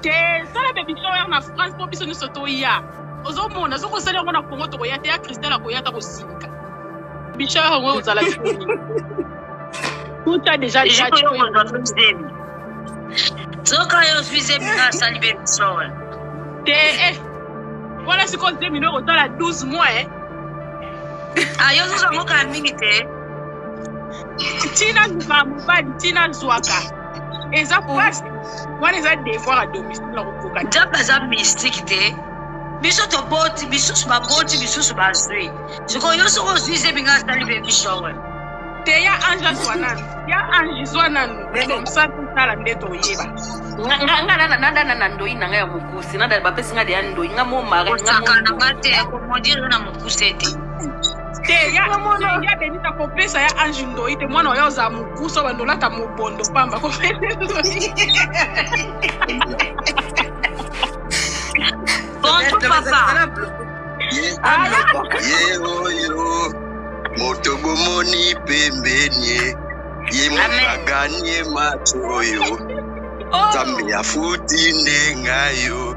te sala baby shower na france mpo biso nyonso toya ozomona soki osali yango na congo tokoya te ya cristal akoya ata kosilika baby shower yango ozala sikoni kuta deja deja soka yo ozwi zemi na asali baby shower te eh. wana sikoyo zemi no kosala 12 mois eh. ah, yo ozoza mokaa mingi te ntina zuka mobali ntina zwaka eza pasi wana eza devoir ya domicile na kokoka nzambe aza mystique te biso toboti bisusu baboti bisusu bazwi sikoyo yo soko ozwi zebi ngai asali mpe bishowe te ya ange azwa nanu ya ange zwa nanu komsa tosala nde toyeba ngadana na ndoi na ngai ya mokuse nadala bapesi ngai deya ndoi ngai momari osakana nga te komodire na mokuse te te ya ya beni na kopesa ya ange ndoi te mwana oyo ozala mokusa bando olata mobondo pamba kopesa ndoi bonjour papa yeoyo moto bomoni pembenie ye mokaganie mato oyo nzambe afuti nde ngai yo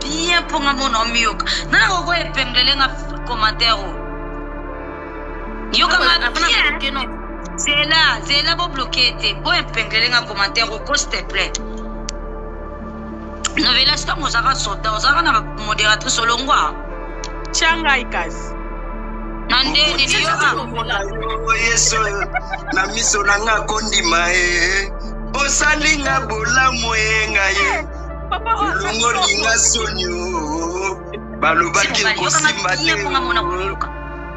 bien mpo nga mona omiyoka nga nakokoya epengele nga commentaire oyo yokanga bien zela zela bobloke te bo epengele nga commentaire oyo ko s'il plaît novela ntango ozalaka soda ozalaka na modératrice olongwa changai kasi na nde nini yoka yesu na miso na nga kondima ye eh. osalinga bolamu eyenga ye papa oyo longo linga soni balobaki ekosimba te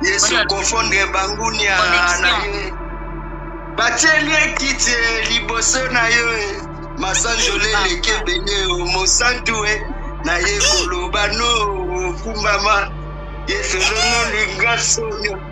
yesu kofondre bangunia na ye batieli ekiti liboso na yo e. masanjole eleki ebele o mosantu e na ye koloba no okumbama yesu longo linga soni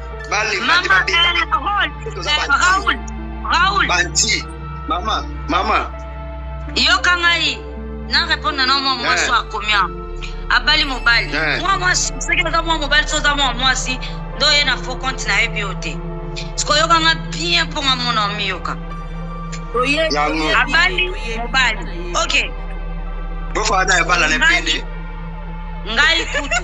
Mama eh, Raoul, eh, Raoul, Raoul. Banti. Mama, mama. Yoka ngai. Na répondre na mwa mwasi eh. akomi awa. Abali mobali. Mwa mwasi, soki oza mwa mobali, soki oza mwa mwasi, ndo ye na faux compte na ye mpe yo te. Siko yoka nga bien mpo nga mona omiyoka. Abali mobali. Okay. Bofana ebala na pende. Ngai kutu.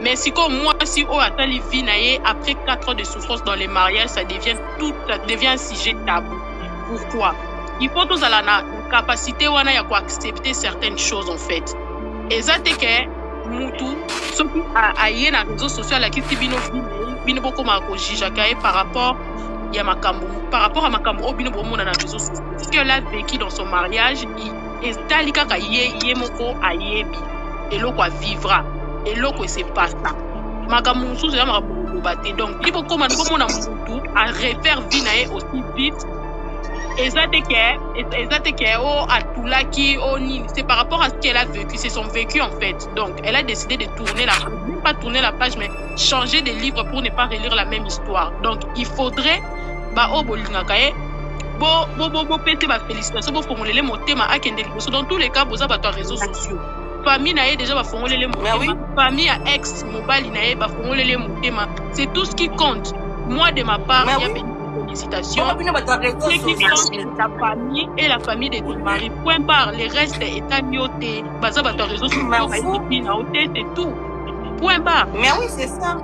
Mais siko mwasi oyo atali vie na ye après 4 ans de souffrance dans les mariages ça devient tout devient un sujet tabou. Pourquoi? Il faut tozala na capacité wana ya ko accepter certaines choses en fait. Eza te ke mutu soki aye na réseau social akiti bino bino bokoma ko jugeaka ye par rapport ya makambo par rapport à makambo oyo bino bomona na réseau social. Ce qu'elle a vécu dans son mariage, il Etali kaka ye ye moko ayebi eloko a vivra eloko ese pasa makambo mosusu eza makambo koloba te donc ye bokoma komona motu a refaire vie na ye aussi vite eza te ke eza te ke o oh, atulaki o oh, nini c'est par rapport à ce qu'elle a vécu c'est son vécu en fait donc elle a décidé de tourner la pas tourner la page mais changer de livre pour ne pas relire la même histoire donc il faudrait baoyo bolingaka ye bopete bafélicitation bofongolele motema akende liboso dans tous les cas boza bato ya réseaux sociaux famille na ye déjà bafongolele motema oui. famille ya ex mobali na ye bafongolele motema c'est tout ce qui compte moi de ma part ya oui. félicitations ce qui compte ta famille et la famille de ton mari point barre les restes etani yo te baza bato ya réseaux sociaux baekipi na yo te c'est tout point barre mais oui c'est ça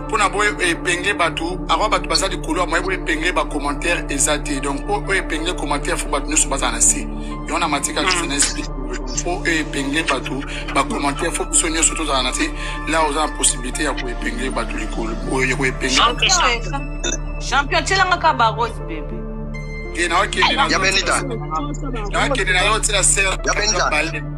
mpo na boye epenge bato awa bato baza likolo ya moye boye epenge bacommentaire eza te donc mpo oyo epenge commentaire fo bato nyonso bazala na se yango na matika kisi na explique mpo oyo epenge bato bacommentaire fo biso nyonso tozala na se la oza na possibilité ya koepenge bato likolo oyo koepenge champion tyelanga ka barose bebe nakende na yo ntina sere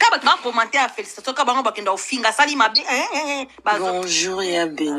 Ka batu ba commenter ya felicitation ka bango bakenda kofinga asali mabe eeh bazo. Bonjour ya beni.